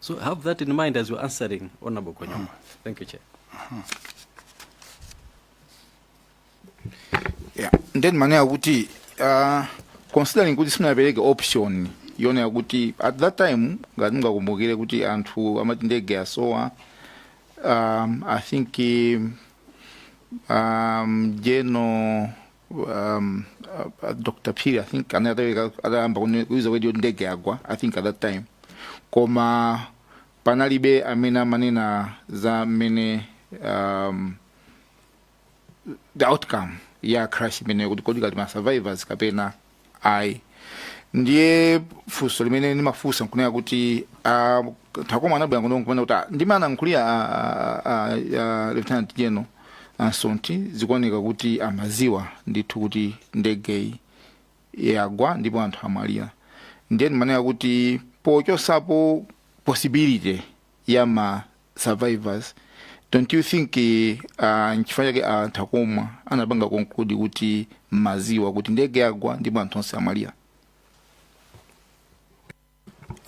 So have that in mind as you're answering Honorable Konyama. Thank you, Chair. yeah. ndiye ndimanena kuti uh, considering kuti simunapereke option yonena kuti at that time ngati mungakumbukire kuti anthu amati ndege yasowa um, i think um, um, general um, uh, Dr Phiri i think anataweka atayamba kune- kuiza radio ndege yagwa i think at that time koma panalibe amene amanena za mmene um, the outcome ya crash imeneyo kuti kodi kali ma survivors kapena ayi ndiye funso limene ndimafunsa nkunena kuti ah, takoma anabwera kuno nkunena kuti ah, mmene analankhulira ah, ah, ah, ah, lieutenant general Msonthi zikuoneka kuti amaziwa ndithu kuti ndegeyi yagwa ndipo anthu amwalira ndiye ndimanena kuti pochotsapo possibility ya ma survivors don't you think uh, nchifukwa chake anthu akumwa anapanga conclude kuti maziwa kuti ndege yagwa ndipo anthu onse amwalira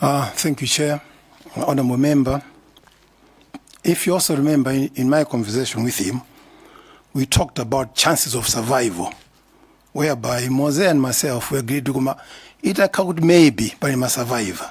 Uh, thank you, Chair. Honorable Member, if you also remember in, in my conversation with him, we talked about chances of survival, whereby Mose and myself we agreed to come. It occurred maybe by my survivor.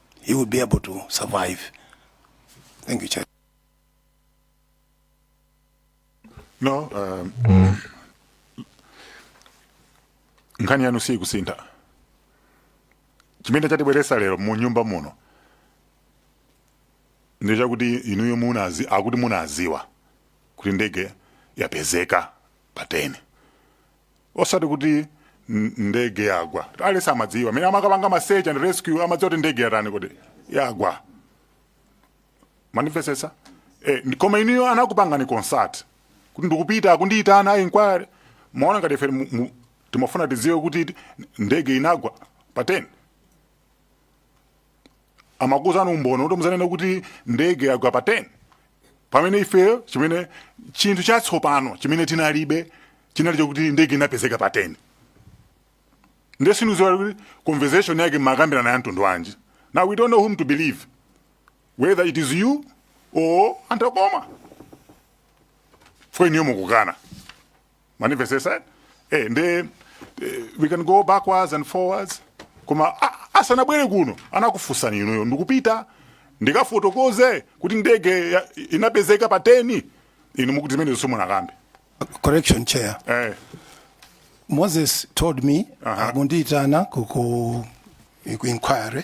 he will be able to survive. Thank you, Chair. No, um, nkhani yanu siyikusintha chimene chatibweresa lero mu nyumba muno ndi chakuti inuyo munazi akuti munaziwa kuti ndege yapezeka pa 10 osati kuti n- ndege yagwa aliyense amadziwa amene amakapanga ma search and rescue amadziwa kuti ndege yatani kuti yagwa mandimvesesa eh, ndi- koma inuyo anakupangani consult kuti ndikupita kundiyitana ku inquiry maona ngati ife mu- mu- timafuna tidziwe kuti ndege inagwa pa 10 amakuuzani umboni kuti muzanene kuti ndege yagwa pa 10 pamene ifeyo chimene chinthu chatsopano chimene tinalibe chinali chakuti ndege inapezeka pa 10 nde sindiziwa kuti conversation yake makambirana ya mtundu wanji now we don't know whom to believe whether it is you or a nthakomwa for inuyo mukukana mwandimvesesa eh? eh, nde eh, we can go backwards and forwards koma asanabwere kuno anakufunsani inuyo ndikupita ndikafotokoze kuti ndege inapezeka pa 10 inu mukuti zimenezo simunakambe correction chair eh. moses told me uh -huh. akundiyitana ku inquiry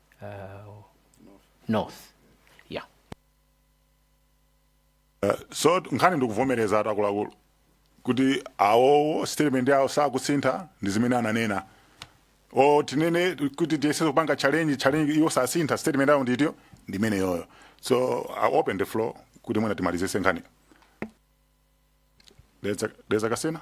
uh, north yeah Eh, so nkhani ndikuvomereza ati akuluakulu kuti awowo statement yawo sakusintha ndi zimene ananena o tinene kuti tiyese kupanga challenge challenge iwo sasintha statement yawo nditiyo ndi imeneyoyo so I open the floor kuti mwina timalizese nkhani dedza kasina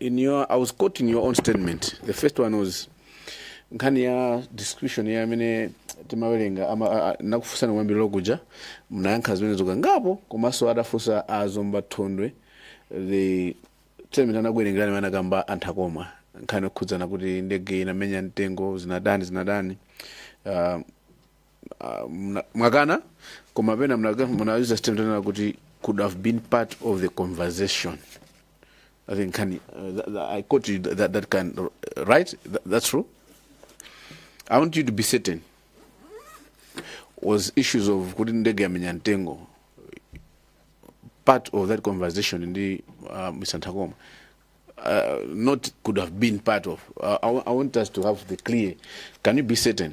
In your, I was quoting your own statement. The first one was nkhani ya description ya amene timawerenga ama- a- a- nakufunsani kumayambiriro kuja mnayankha zimenezo kangapo komanso adafunsa a zomba thondwe the statement anakuwerengerani imene anakamba a nthakomwa nkhani yokhudzana kuti ndege inamenya mtengo zinatani zinatani uh, uh, mna- mwakana koma pena mna- munauza statement yonena kuti could have been part of the conversation i think kani uh, that, that, i quote you that, that can right that, that's true i want you to be certain was issues of kuti ndege yamenya mtengo part of that conversation ndi uh, mr ntakoma uh, not could have been part of uh, I, wa- I want us to have the clear can you be certain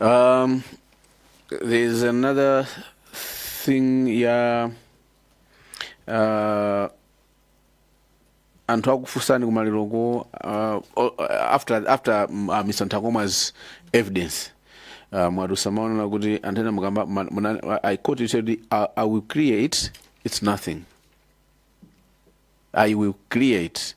Um, there's another thing ya uh, anthu akufunsani kumaliroko uh, o- after, after mm, uh, mr nthakomwa's evidence uh, mwadusa mwaona kuti anthu ena mukamba ma- muna- i quote you said I, i will clear it it's nothing i will clear it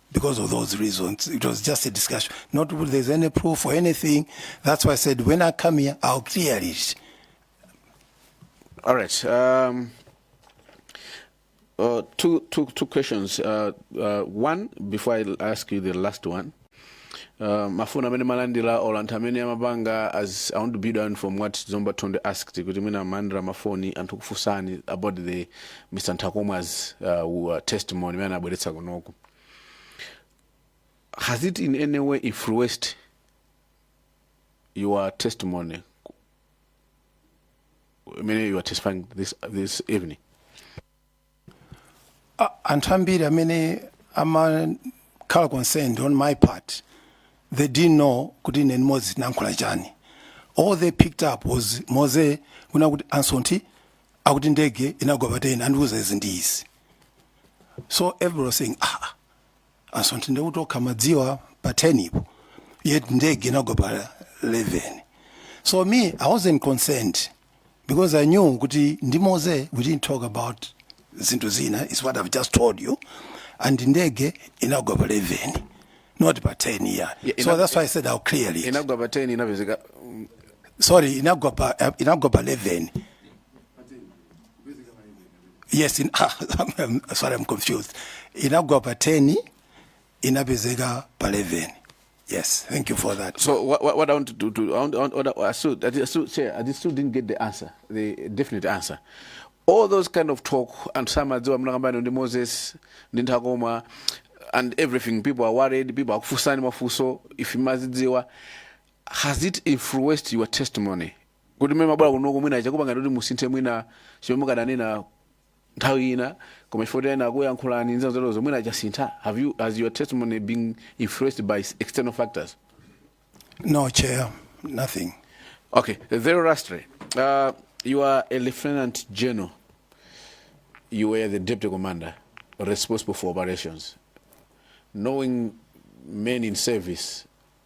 because of those reasons. It was just a discussion. Not that there's any proof or anything. That's why I said when I come here, I'll clear it. All right. Um, uh, two, two, two questions. Uh, uh, one, before I ask you the last one, uh, mafuna amene malandira or anthu amene amapanga as i want to build on from what zomba tonde asked kuti mwina malandira mafoni anthu kufunsani about the mr nthakomwa's uh, uh, testimony imene anabweretsa kunoku has it in any way influenced your testimony imene you are testifying this, this evening A- anthu ambiri amene amakhala concerned on my part they didn't know kuti ine ndi moze tinayankhula chani all they picked up was moze kunena kuti a msonthi akuti ndege inagwa pa 10 andiuza izi ndi izi so everybody was saying ah a msonthi nde kuti okha amadziwa pa 10 po yet ndege inagwa pa 11 so me i wasn't concerned because i knew kuti ndi moze we didn't talk about zinthu zina is what i've just told you and ndege inagwa pa 11 not pa 10 yeah, Yeah, so ina- that's why i said i'll clear it. inagwa pa 10 inapezeka mm, sorry inagwa pa eh, inagwa pa 11 yes in, I'm, sorry i'm confused inagwa pa 10 inapezeka pa 11 yes thank you for that so what, what, what i want to do to, I, want, I, want, I, still, I still chair i still didn't get the answer the definite answer all those kind of talk and some are doing mnakambani ndi moses ndi nthakoma and everything people are worried people are kufusani mafuso if mazidziwa has it influenced your testimony kuti mmene mumabwera kunoko mwina chakupangani kuti musinthe mwina chimene mukadanena nthawi ina koma chifukwa kuti ena akuyankhulani ndi zina zoterozo mwina chasintha have you has your testimony been influenced by external factors No, Chair, nothing. Okay, very lastly, uh, you are a lieutenant general. You were the deputy commander responsible for operations. Knowing men in service,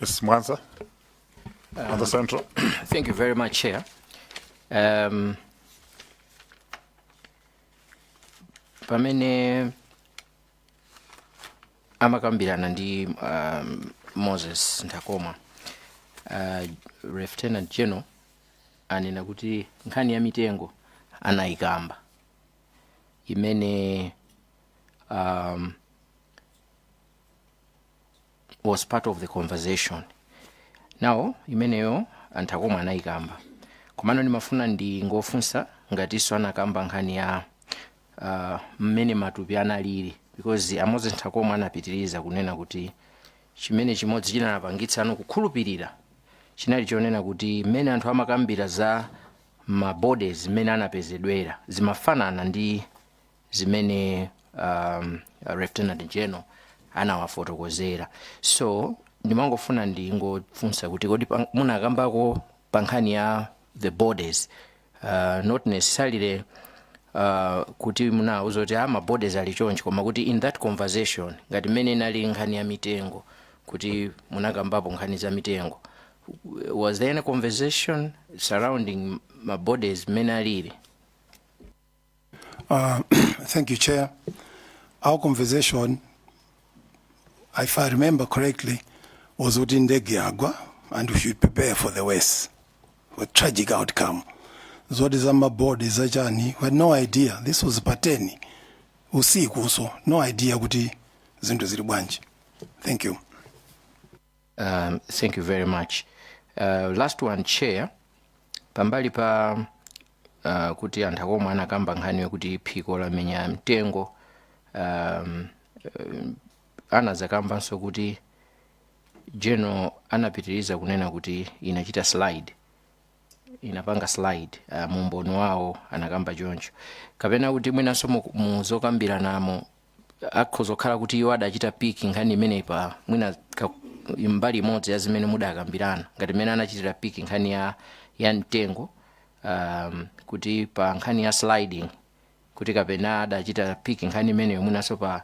Yes, Mwanza. On the central. Thank you very much, Chair. Um, pamene amakambirana ndi um, Moses Nthakomwa uh, lieutenant general anena kuti nkhani ya mitengo anayikamba imene um, was part of the conversation now imeneyo a Nthakomwa anayikamba komano ndimafuna ndingofunsa ngatinso anakamba nkhani ya uh, mmene matupi analili because a Moses Nthakomwa anapitiriza kunena kuti chimene chimodzi chinapangitsa anu kukhulupirira chinali chonena kuti mmene anthu amakambira za mabodies mmene anapezedwera zimafanana ndi zimene um, lieutenant general anawafotokozera so ndimangofuna ndingofunsa kuti kodi pa- munakambako pa nkhani ya the bodies uh, not necessarily uh, kuti munawauza kuti a ma bodies ali chonchi koma kuti in that conversation ngati mmene inali nkhani ya mitengo kuti munakambapo nkhani za mitengo was there any conversation surrounding ma bodies mmene alili Uh, thank you, Chair. Our conversation, if I remember correctly, was kuti ndege yagwa and we should prepare for the worst, for tragic outcome. Zoti za mabodi za chani, we had no idea. This was pateni usiku, so no idea kuti zinthu zili bwanji. Thank you. Um, thank you very much. Uh, last one chair pambali pa uh, kuti a Nthakomwa anakamba nkhani yokuti phiko lamenya mtengo um, um, anazakambanso kuti general anapitiriza kunena kuti inachita slide inapanga slide uh, mu umboni wawo anakamba choncho kapena kuti mwinanso mu- muzokambiranamo akhoza kukhala kuti iwo adachita pick nkhani imeneyi pa mwina ka- mbali imodzi ya zimene mudakambirana ngati mmene anachitira pick nkhani ya, ya mtengo um, kuti pa nkhani ya sliding kuti kapena adachita pick nkhani imeneyo mwinanso pa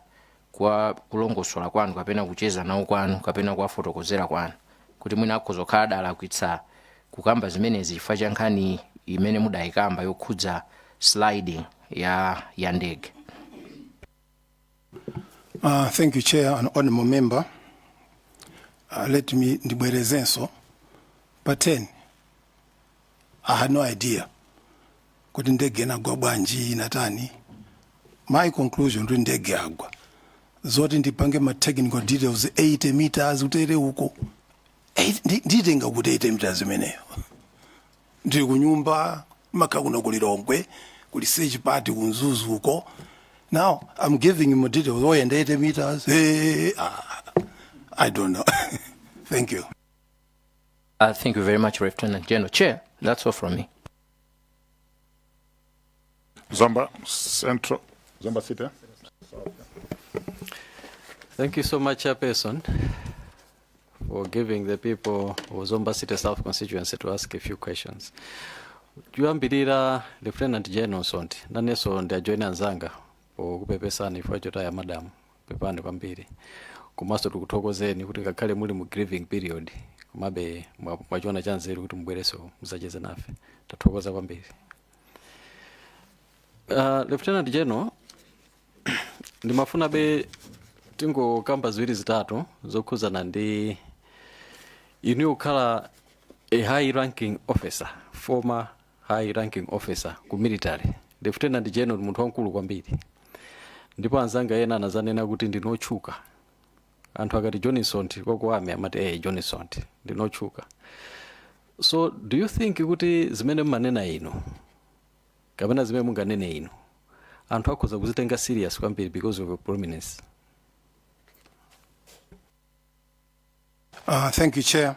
kwa kulongosola kwanu kapena kucheza nawo kwanu kapena kuwafotokozera kwanu kuti mwina akhoza kukhala adalakwitsa kukamba zimenezi chifukwa cha nkhani imene mudayikamba yokhudza sliding ya ya ndege Uh, thank you, Chair and Honorable Member. Uh, let me ndibwerezenso pa 10 I had no idea kuti ndege inagwa bwanji inatani my conclusion kuti ndege yagwa zoti ndipange ma technical details 80 meters utere uko Eh, ndi- nditenga kuti 80 meters imeneyo ndili kunyumba makha kuno ku Lilongwe kuli search party ku Mzuzu uko now i'm giving him ma details oyenda 80 meters hey, ah, i don't know thank you Uh, thank you very much, Lieutenant General. Chair, that's all from me. Zomba Central, Zomba City. Thank you so much, Chairperson, for giving the people of Zomba City South constituency to ask a few questions. Choyambirira Lieutenant General Msonthi, nanenso ndiwajoina anzanga pokupepesani chifukwa chotaya madamu pepani kwambiri komanso tikuthokozeni kuti ngakhale muli mu grieving period komabe mwa- mwachiona chanzeru kuti mubwerenso muzacheze nafe tathokoza kwambiri Uh, Lieutenant General, ndimafunabe tingokamba ziwiri zitatu zokhuzana ndi inu kukhala a high ranking officer former high ranking officer ku military lieutenant general munthu wamkulu kwambiri ndipo anzanga ena anazanena kuti ndinotchuka anthu akati John Msonthi kwakuwame amati ee eh, John Msonthi ndinotchuka so do you think kuti zimene mmanena inu kapena zimene munganene inu anthu akhoza kuzitenga serious kwambiri because of your prominence Uh, thank you, Chair.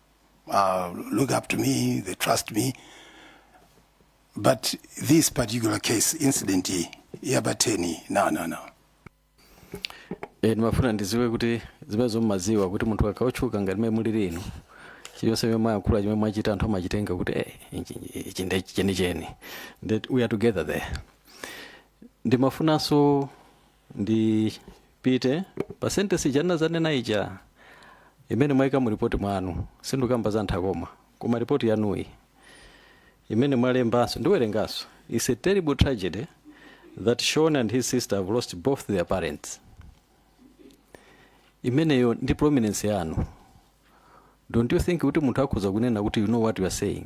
uh, look up to me, they trust me. But this particular case, incident iyi, ya pa 10, no, no, no. Eh, ndimafuna ndiziwe kuti zimenezo mmaziwa kuti munthu akaotchuka ngati mmene mulili inu chiliyonse chimene mwayankhula chimene mwachita anthu amachitenga kuti eh, ichi- ichi- ichi ndi chenicheni that we are together there ndimafunanso ndipite pa sentence ija ndinazanena ija imene mwaika mu ripoti mwanu sindikukamba za Nthakomwa koma ripoti yanuyi imene mwalembanso ndiwerenganso it's a terrible tragedy that Sean and his sister have lost both their parents imeneyo ndi prominence yanu don't you think kuti munthu akhoza kunena kuti you know what you are saying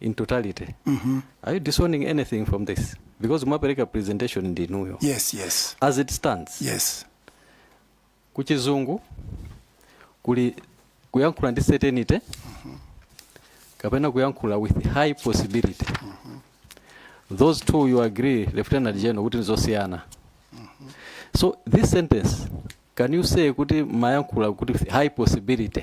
in totality are you disowning anything from this because mwapereka presentation ndi inuyo yes yes as it stands yes kuchizungu kuli kuyankhula ndi certainty kapena kuyankhula with high possibility those two you agree lieutenant general kuti nizosiyana so this sentence can you say kuti mumayankhula kuti with high possibility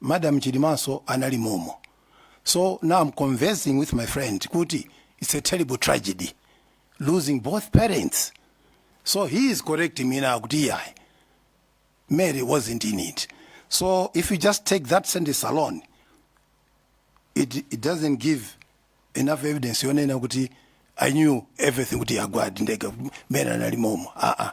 madam chilimanso anali momo so now i'm conversing with my friend kuti it's a terrible tragedy losing both parents so he is correcting me now kuti iyayi mary wasn't in it so if you just take that sentence alone it, it doesn't give enough evidence yonena kuti i knew everything kuti yagwadi ndege mary anali momo aa uh -uh.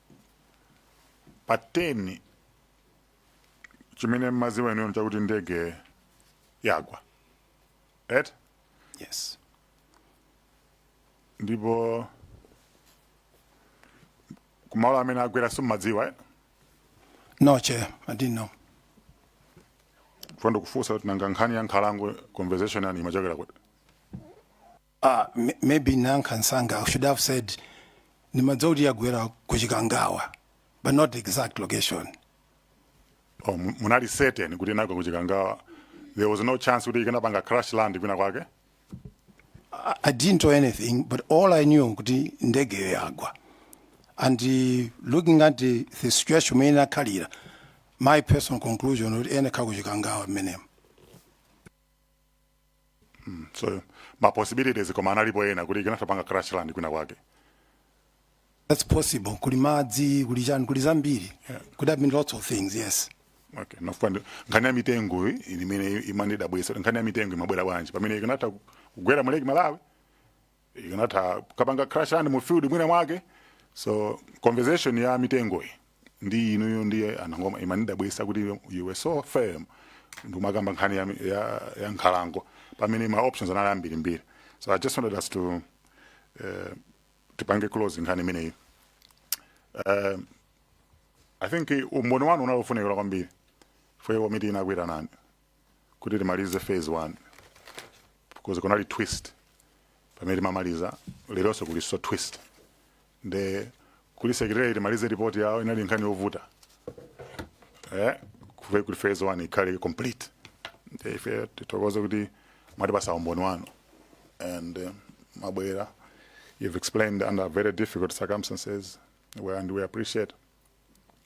pa 10 chimene mmaziwa inuyo chakuti ndege yagwa eti yes ndipo kumalo amene yagwera simmadziwa eh? no chair i didn't know funso ndikufunsa kuti nanga nkhani ya nkhalango conversation yake imachokera kuti Ah, m- maybe ndinayankha msanga I should have said ndimadziwa kuti yagwera ku Chikangawa, but not the exact location. oh, mu- munali certain kuti inagwa kuchikangawa there was no chance kuti ikanapanga crash land kwina kwake I, I didn't know anything, but all I knew kuti ndege yagwa. And uh, looking at the, the situation mmene inakhalira, my personal conclusion kuti inali ku Chikangawa mmenemo. so ma possibilities koma analipo ena kuti ikanatha panga crash land kwina kwake That's possible. Kuli madzi, kuli chani, kuli zambiri. Could have been lots of things, yes. okay ndimafuna nkhani ya mitengo iyi imene imanidabwisa kuti nkhani ya mitengo imabwera bwanji pamene ikanatha kugwera mu Lake Malawi ikanatha kapanga crash land mu field mwina mwake so conversation ya mitengoyi ndi inuyo ndi imene imanidabwisa kuti you were so firm ndikumakamba nkhani ya, ya, ya nkhalango pamene ma options anali ambirimbiri so i just wanted us to uh, tipange close nkhani imeneyi uh, i think umboni wanu unali ofunikira kwambiri for komiti inakuitanani kuti timalize phase 1 because kunali twist pamene timamaliza leronso kulinso twist nde kuli secretary timalize report yawo inali nkhani yovuta eh kuti phase 1 ikhale complete nde ife tithokoze kuti mwatipasa umboni wanu and uh, mwabwera you've explained under very difficult circumstances well, and we appreciate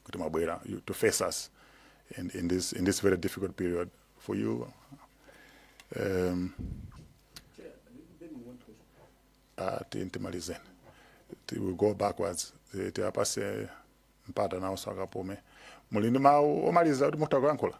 kuti mwabwera you- to face us in, in, this, in this very difficult period for you um, uh, ti- timalizeni Ti- we'll go backwards Ti- tiwapase mpata nawo akapume muli ndi mawu omaliza kuti mutha kuyankhula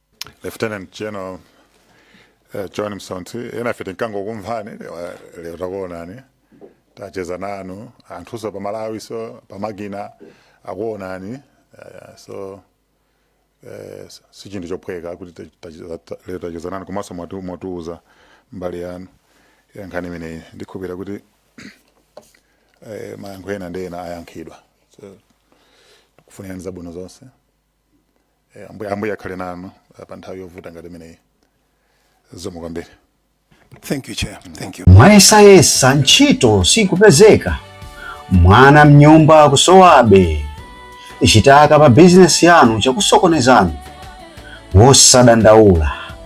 lieutenant general eh, john msonthi enafe timangokumvani lero- lero takuonani tacheza nanu anthunso pamalawinso pamakina akuonani eh, so eh, s- si chinthu chophweka kuti ta- tacheza- ta- lero tacheza nanu komanso mwatu- mwatiuza mbali yanu ya nkhani imeneyi ndikukhulupirira kuti eh, mayankho ena ndi ena ayankhidwa so tikukufunirani zabwino zonse Eh, ambuye ambuye akhale nanu eh, pa nthawi yovuta ngati imeneyi zikomo kwambiri Thank you, Chair. Thank you. mwayesayesa ntchito sikupezeka mwana mnyumba akusowabe chitaka pa bizinesi yanu chakusokonezani osadandaula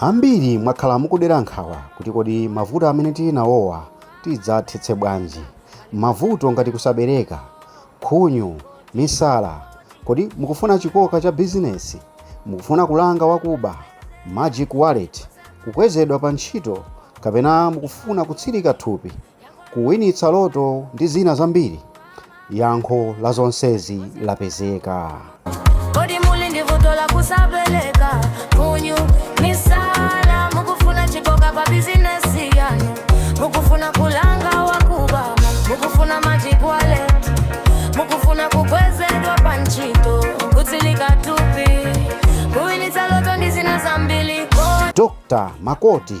Ambiri mwakhala mukudera nkhawa kuti kodi mavuto amene tili nawowa tidzathetse bwanji? Mavuto ngati kusabereka, khunyu, misala, kodi mukufuna chikoka cha bizinesi? Mukufuna kulanga wakuba, magic wallet, kukwezedwa pa ntchito kapena mukufuna kutsirika thupi? kuwinitsa loto ndi zina zambiri? Yankho la zonsezi lapezeka. Kodi muli ndi vuto la kusabereka khunyu misala mukufuna chikoka pa bizinesi yanu mukufuna kulanga wakuba mukufuna magic wallet mukufuna kukwezedwa pa ntchito kutsirika thupi kuwinitsa loto ndi zina zambiri kodi Dr. Makoti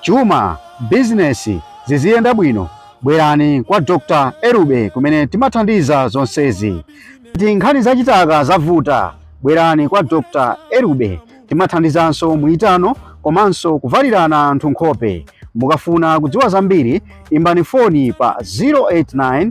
chuma, bizinesi ziziyenda bwino bwerani kwa Dr. Erube kumene timathandiza zonsezi. Ngati nkhani za chitaka zavuta bwerani kwa Dr. Erube timathandizanso muitano komanso kuvalirana anthu nkhope. Mukafuna kudziwa zambiri imbani foni pa 089